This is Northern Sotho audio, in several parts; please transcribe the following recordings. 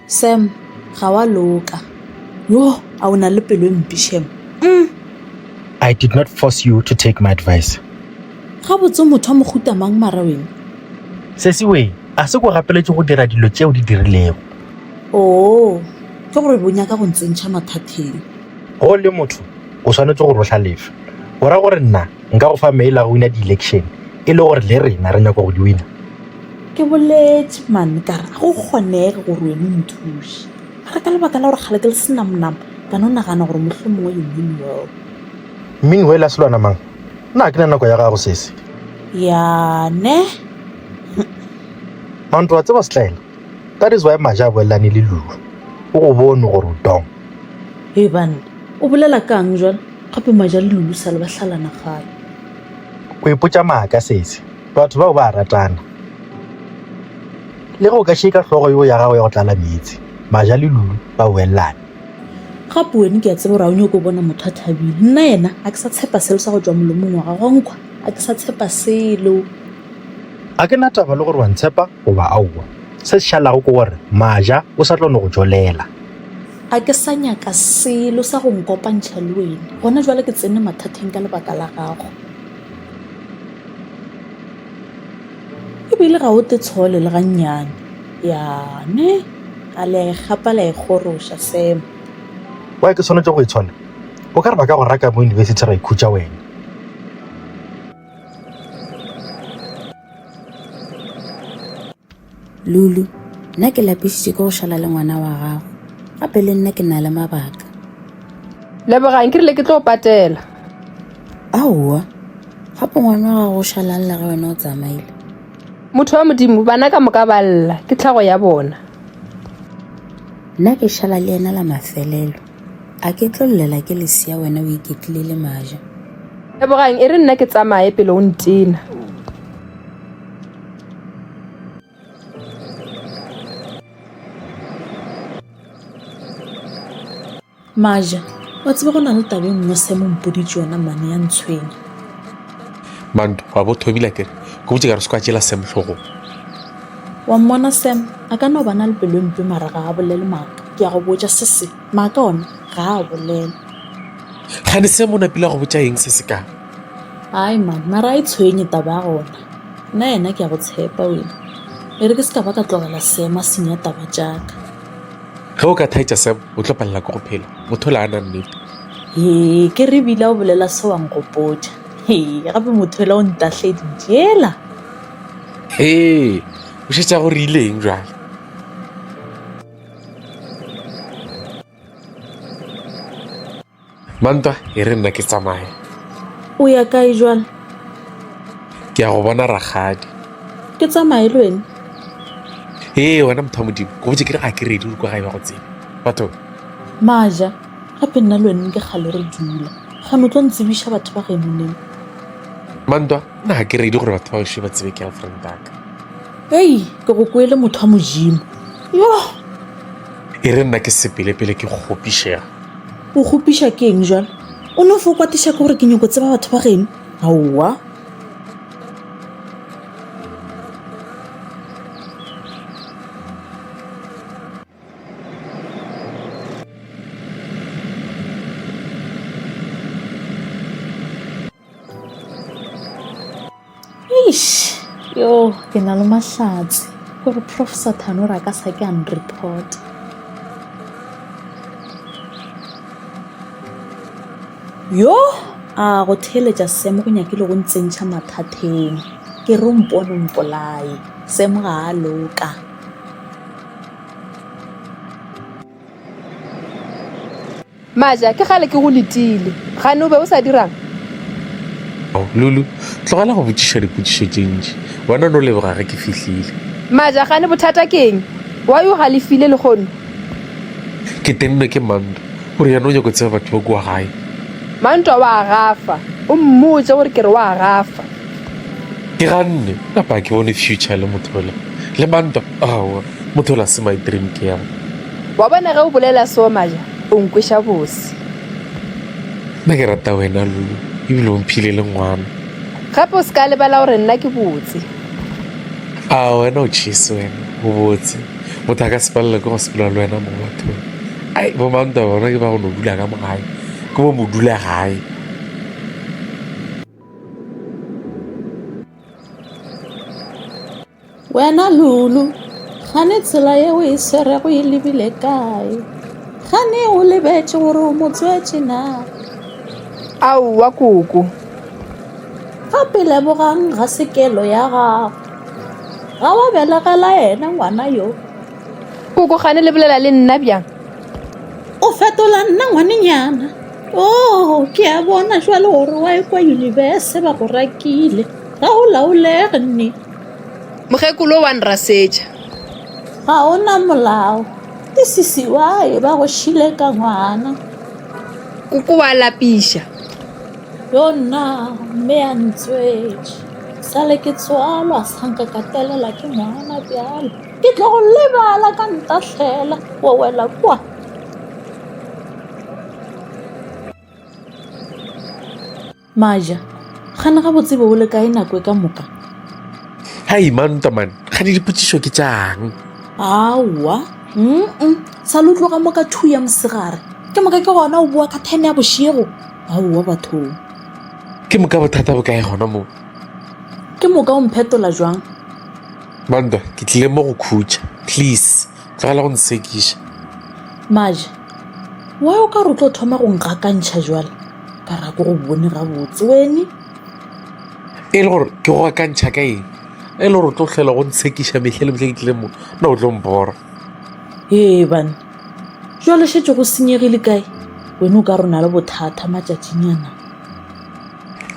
Sam, ga wa loka. Yo, a o na le pelo e mpe, Shem. I did not force you to take my advice. Ga botse motho wa mohuta mang mara wena? Sesiwe, a se ko gapeletše go dira dilo tšeo di dirilego. Oo, ke gore bo nyaka go ntsentšha mathateng. Ge o le motho, o swanetše go rohlalefa. O ra gore nna Nka go fa mail a go wina di-election e le gore le rena re nyako go di wina. Ke boletše man ka re go kgonege gore wena o nthuše mara ka lebaka la gore kgale ke le senamonamo ka no nagana gore motlho mongwe you mean well mean well a selwana mang nna ke na nako ya gago sese yane manto wa tseba setlaela That is why Maja a boelelane le Lulu. O go bone gore o dong. Hei banna, o bolela kang jwale? Gape Maja le Lulu sale ba hlalana kgale. O ipotša maaka sese. Batho bao ba a ratana. Le ge o ka šeika hlogo yo ya gago ya go tlala meetse, Maja le Lulu ba boelelane. Gape wene ke a tseba gore ga o nyoko bona motho a thabile. Nna yena a ke sa tshepa selo sa go tšwa molomong wa gago, nkhwa a ke sa tshepa selo. Ga ke na taba le gore wa ntshepa goba aowa. Se se šalago ke gore Maja o sa tlo no go tšwelela. Ga ke sa nyaka selo sa go nkopantšha le wena. Gona bjale ke tsene mathateng ka lebaka la gago. E bile ga o te tshole le gannyane. Ya, ne? A le a e gapa le a e goroša, Sam. Why ke swanetše go e tshola? O ka re ba ka go raka mo yunibesithi ra ikhutša wena. Lulu, Nna ke lapišitše ke go šala le ngwana wa gago. Gape le nna ke na le mabaka. Lebogang, Ke rile ke tlo patela. Aowa, gape ngwana wa gago o šalang le ge wena o tsamaile. Motho wa Modimo, bana ka moka ba lla, ke tlhago ya bona. Nna ke šala le yena la mafelelo. A ke tlo llela ke lesea wena o iketlile le maja. Lebogang e re nna ke tsamaye pele o ntena. Maja, wa tsebe go na le taba e nngwe se mo mpoditše yona mane ya ntshwenya. Manto, wa bo thobile akere? Ke botše ka re se ka tšela Sam hlogong. Wa mmona Sam a ka no ba na le pelo e mpe mara ga a bolele maaka, ke a go botša se se, maaka ona ga a bolele. Kgane Sam o napile a go botša eng se se ka? Ai man, mara a e tshwenye taba ya gona. Nna yena ke a go tshepa wena. E re ke se ka ba ka tlogela Sam a senya taba tša ka. Ge o ka thaetša Sam, o tlo palela ke go phela. Motho la a na nnete. Hee, ke re ebile a o bolela se wa nkgopotša. Hee, gape motho ela o ntahledi, jela. Ee, o šetša go rileng jwale? Mantwa, e re nna ke tsamaye. O ya kae jwale? Ke ya go bona rakgadi. Ke tsamaye le wena? Ee, wena motho wa modimo, go botse ke re ga ke redi gore kwa gae ba go tsebe. Batho. Maja, gape nna le wena ke kgale re dula. Kgano tlo ntsebiša batho ba genoneng. Mantwa. na ke redi gore batho ba gešo ba tsebe girlfriend aka ei ke go kwele motho wa modimo yo e re nna ke sepelepele ke kgopišega o kgopiša ke eng jale o ne o fo kwatiša ke gore ke nyoko tseba batho ba geno aowa Eish, yo, ke na le mahlatse. Gore Prof Sathane o re a ka sa ke a nreport. Yo, a go theeletša Sam go nyakile go ntsentšha mathateng. Ke re o mpone o mpolaye. Sam ga a loka. Maja, ke kgale ke go letile. Gane o be o sa dirang? Oh, Lulu, tlogela go botšiša dipotšišo tše ntši. Wena o no leboga ge ke fihlile. Maja, gane bothata ke eng? Why o galefile lehono? Ke tennwe ke Mantwa. O re yena o nyako tseba batho ba kua gae. Mantwa wa gafa. O mmotše gore ke re wa gafa. Ke ganne, kapa ke bone future le motho ola. Le Mantwa, aowa, motho ola se my dream girl. Wa bona ge o bolela seo Maja, o nkweša bose. Nna ke rata wena, Lulu, ebile o mphile le ngwana. Gape o se ka lebala gore nna ke botse. A wena o tšhese wena, o botse. Motho a ka se palelwe ke go sepela le wena mo bathong. Ai, bo mantwa bona ke ba go no dula ka mogae, ke bo modula gae. Wena Lulu, gane tsela yeo e swerego e lebile kae? Gane o lebetše gore o mo tswetše na? Aowa koko. Gape lebogang ga se kelo ya gago. Ga wa belegela yena ngwana yo. Koko gane le bolela le nna bjang? O fetola nna ngwanenyana. Oh, ke a bona jwale gore wa ekwa yunibese ba go rakile. Ga o laolege nne. Mokgekolo wa nrasetša. Ga o na molao. Ke sisi wa e ba go šile ka ngwana. Koko wa lapiša. Yo nna mme a ntswetše. Sale ke tswalwa sanka ka telela ke ngwana bjalo. Ke tlo go lebala ka ntahlela wa wela kwa. Maja, Gane gabotse be o le kae nako e ka moka? Hai mantwa man, gane dipotšišo ke tšang? Aowa, mm sa lo tloga mo ka two ya mosegare. Ke moka ke gona o boa ka ten ya bošego? Aowa bathong. Ke moka bothata bo kae gona moo? Ke moka o mphetola jwang? Mantwa, ke tlile mo go khutša. Please, tlogela go nsekiša. Maja, Why o ka re o tlo thoma go ngakantšha jwale? ka ra ko go bone gabotse wene e le gore ke go akantšha ka eng e le gore o tlo tlhela go ntshekiša metlhe le metlhe ke tlile mo na o tlo mbora ee bane jalo šetse go senyegile kae wene o ka rona le bothata matšatšinyana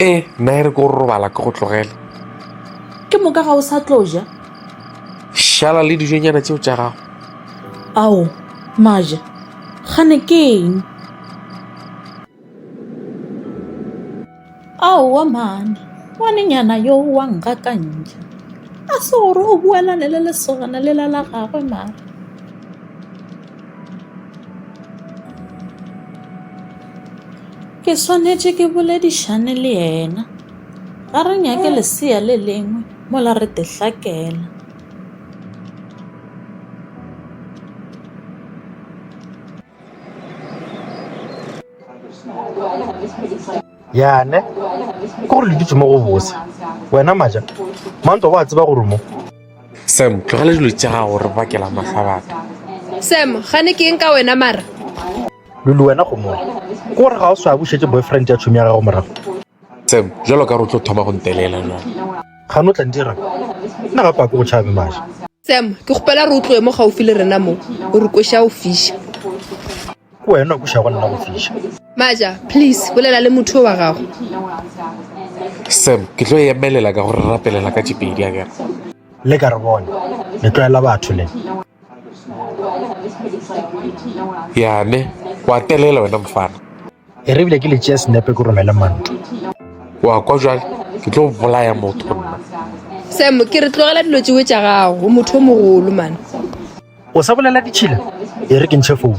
ee nna e re ke go robala ke go tlogela ke moka ga o sa tlo ja šala le dijonyana tseo tša gago ao maja gane ke eng Aowa mane, ngwanenyana yo wa ngakantšha. A se gore o boelane le lesogana lela la gagwe mane? Ke swanetše ke boledišane le yena. Ga re nyake lesea le lengwe mola re te hlakela. yane ke gore le ditse mo go bose wena maja manto ba tseba gore mo sam tlogela dilo tša gago re bakela mahla batho sam gane ke eng ka wena mara lulu wena go mona ke gore ga o swa bušetse boyfriend ya tšhomi ya gago morago Sam, bjalo ka re o tlo thoma go ntelela jwale. Gane o tla ntira nna gape a ke go tšhabe maša. Sam, ke kgopela re o tloe mo gaufi le rena mo, o re kweša go fiša. Ke wena o kwešago nna go fiša. Maša, please, bolela le motho yo wa gago. Sam, ke tlo emelela ka go re rapelela ka tše pedi akere. Le ka re bone, le tlwaela batho le. Yane, wa telela wena mfana. e re bile ke le tšea senepe ke romele mantu wa kwa jale ke tlo bolaya motho nna sam ke re tlogela dilo tsewe tša gago o motho o mogolo mane o sa bolela ditšhila e re ke ntšhe founu